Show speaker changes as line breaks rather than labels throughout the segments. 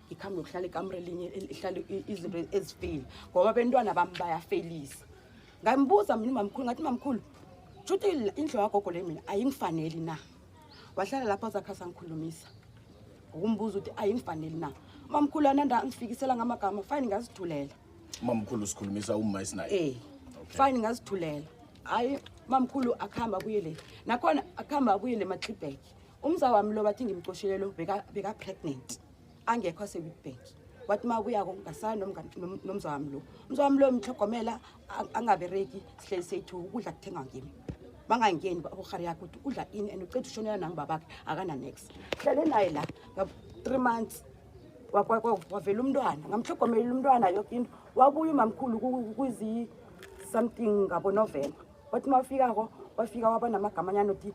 ngikhambe yokuhlala ikamre elinye ihlale izinto ezifeyile ngoba bentwana bami bayafelisa ngambuza mina umamkhulu ngathi mamkhulu shuthi indlu yagogo le mina ayingifaneli na wahlala lapho azakhasa ngikhulumisa ngokumbuza ukuthi ayingifaneli na umamkhulu ananda ngifikisela ngamagama fine ngazithulela umamkhulu
sikhulumisa umma esinaye eh fine
ngazithulela hayi mamkhulu akuhamba abuye le nakhona akuhamba abuye le matlibheki umza wami lo bathi ngimcoshelelo beka-pregnant beka angekho asewitbank wathi uma kuyako ngasana nomza wami lo umza wami lo mhlogomela angabereki sihleli sethu ukudla kuthengwa ngimi bangangeni uhari yakho ukuthi udla ini and uceda ushonela nangibabakhe akananex hlele naye la nga-three months wavela umntwana ngamhlogomelela umntwana yoke into wabuya umamkhulu kwizi-something ngabonovemba wathi uma wafikako wafika waba namagama anyana othi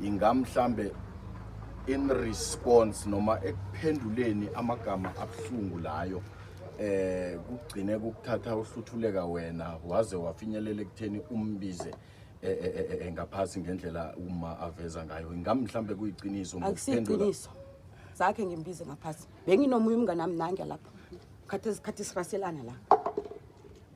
inga mhlambe in response noma ekuphenduleni amagama abuhlungu layo eh kugcine kukuthatha uhluthuleka wena waze wafinyelela ekutheni umbize eh, eh, eh, eh ngaphasi ngendlela uma aveza ngayo ingamhlambe kuyiqiniso ngokuphendula akusiqiniso
zakhe ngimbize ngaphasi benginomuye umngane nami nange lapha khathi isikhathi siraselana la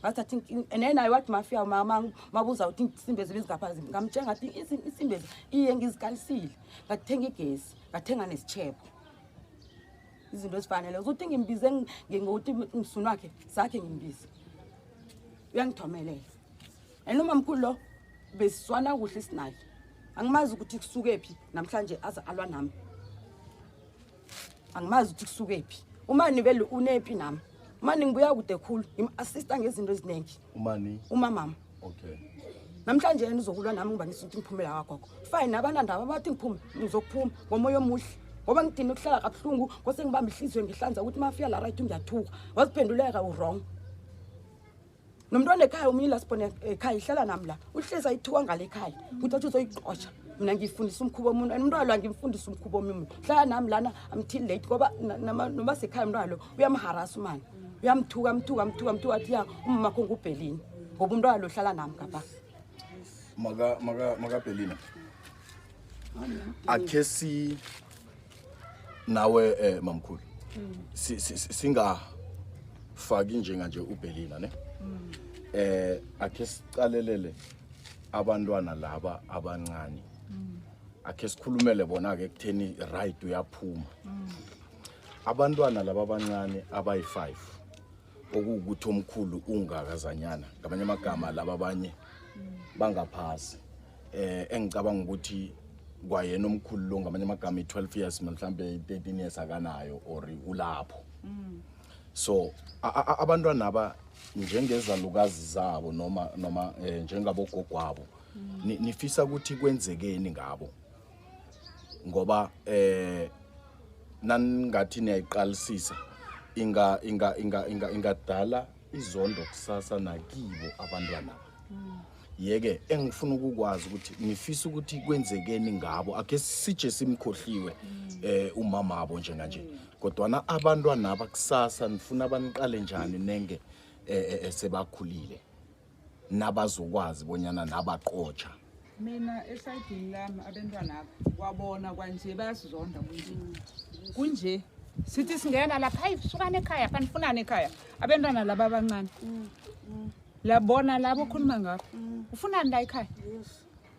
ngathi athi nena i wathi mafia mama mabuza ukuthi isimbe zibe zingapha zimbi ngamtshela ngathi isimbe iye ngizikalisile ngathenga igesi ngathenga nesitshebo izinto ezifanele uzothi ngimbize ngokuthi msunu wakhe sakhe ngimbize uyangithomelela and umamkhulu lo besiswana kuhle sinaye angimazi ukuthi kusuke phi namhlanje aze alwa nami angimazi ukuthi kusuke phi umani vele unepi nami umani ngibuya kude khulu ngim-assista ngezinto eziningi umani umamama okay
namhlanje yena
uzokulwa nami ngoba nisuthi ngiphumela wagogo fine abanandaba bathi ngiphume ngizokuphuma ngomoya omuhle ngoba ngidine ukuhlala kabuhlungu ngose ngibamba ihliziyo ngihlanza ukuthi mafika la right ngiyathuka waziphenduleka urong nomntwana ekhaya omunye lasibona ekhaya ihlala nami la uhlezi ayithiwa ngale ekhaya ukuthi athi uzoyiqosha mina ngiyifundisa umkhuba omuntu and umntwana lo angimfundisa umkhuba omunye hlala nami lana amtil late ngoba noma sekhaya umntwana lo uyamharasa umani uyamthuka amthuka amthuka amthuka athi ya umama kho ngubhelini ngoba umntwana lo hlala nami ngapha
makabhelina akhe si nawe eh mamkhulu si- si- si- singafaki njenga nje ubhelina ne eh akhe sicalelele abantwana laba abancane akhe sikhulumele bona ke kutheni right uyaphuma abantwana laba abancane abayi-5 okuwukuthi omkhulu ungakazanyana ngamanye amagama laba abanye bangaphasi eh engicabanga ukuthi kwayena omkhulu lo ngamanye amagama i-12 years mhlawumbe i-13 years akanayo or ulapho mm. so abantwana aba njengezalukazi zabo noma noma eh, njengabogogwabo mm. nifisa ukuthi kwenzekeni ngabo ngoba eh naningathi niyayiqalisisa inga inga inga inga ingadala izondo kusasa nakibo abantwana yeke engifuna ukukwazi ukuthi ngifisa ukuthi kwenzekeni ngabo akhe sije simkhohliwe eh umama wabo njenganje kodwana abantwana abakusasa nifuna baniqale njani nenge eh, eh, eh, sebakhulile nabazokwazi bonyana nabaqotsha mina
esayidini lami abentwana apha kwabona kwanje bayasizonda kunje kunje sithi singena lapha hayi sukani ekhaya kanifunani ekhaya abentwana laba abancane labona labo okhuluma ngabo ufunani la ekhaya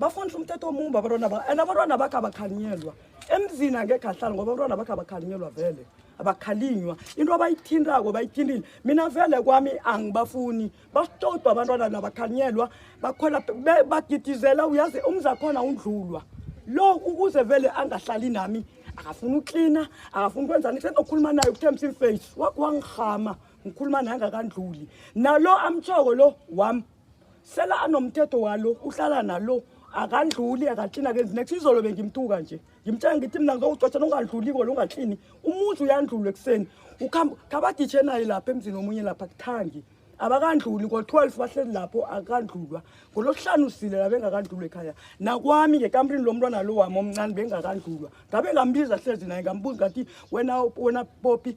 bafundisa umthetho omumbi abantwana ba and abantwana bakhe abakhalinyelwa emzini angekhe ahlala ngoba abantwana bakhe abakhalinyelwa vele abakhalinywa into abayithintako bayithintile mina vele kwami angibafuni basitodwa abantwana nabakhalinyelwa bakhwela be- bagidizela uyazi umzi akhona undlulwa lo ukuze vele angahlali nami akafuni uklina akafuni kwenzani senokhuluma naye ukuthembisa imface wangihama ngikhuluma naye angakandluli nalo amtshoko lo wami sela anomthetho walo uhlala nalo akandluli akaklini akenzi next izolo bengimtuka nje ngimtshela ngithi mina ngizowucotsha nongandluli kona ungaklini umuzi uyandlula ekuseni khabaditshe naye lapha emzini omunye lapha kuthangi abakandluli ngo-12 bahleli lapho akandlulwa ngolokuhlanu usile la bengakandlulwa ekhaya nakwami ngekamrini lo mntwana lo wami omncane bengakandlulwa ngabe ngambiza hlezi naye ngambuza ngathi wena wena popi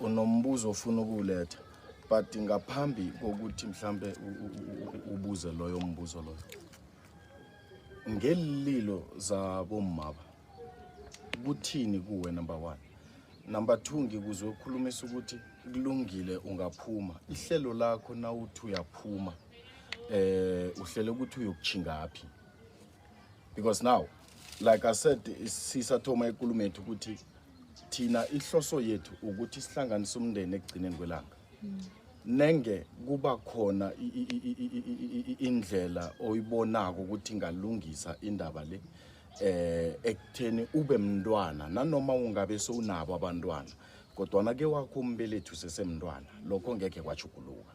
unombuzo ofuna ukuwuletha but ngaphambi kokuthi mhlambe ubuze loyo mbuzo loyo ngelililo zabomaba kuthini kuwe number one number two ngikuzwe ukhulumisa ukuthi kulungile ungaphuma ihlelo lakho nawuthi uyaphuma eh uhlele ukuthi uyokuchingaphi because now like i said sisathoma ikulumo yethu ukuthi thina ihloso yethu ukuthi sihlanganise umndeni ekugcineni kwelanga nenge kuba khona indlela oyibonako ukuthi ingalungisa indaba le eh ekutheni ube mntwana nanoma ungabe sowunabo abantwana kodwana ke wakho umbelethu sesemntwana lokho ngeke kwajuguluka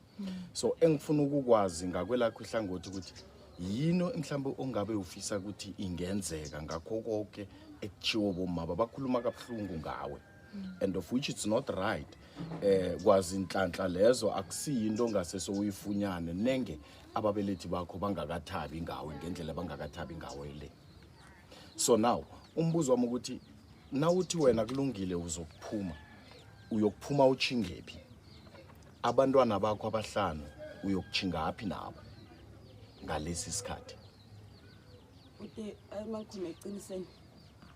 so engifuna ukukwazi ngakwelakho ihlangothi ukuthi yini mhlawumbe ongabe ufisa ukuthi ingenzeka ngakho konke ekuchiwo bomama bakhuluma kabuhlungu ngawe and of which it's not right eh kwazi inhlanhla lezo akusiyinto ongase soyifunyane nenge ababelethi bakho bangakathabi ngawe ngendlela bangakathabi ngawe le so now umbuzo wami ukuthi nawuthi wena kulungile uzokuphuma uyokuphuma uchingephi abantwana bakho abahlanu uyokuchingaphi nabo ngalesi sikhathi
ude ayimangikhona eqiniseni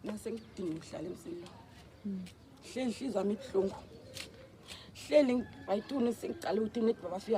nase ngidinga ukuhlala emsini lo hle inhliziyo yami ibuhlungu hleli ayituni sengiqala ukuthi nibaba fika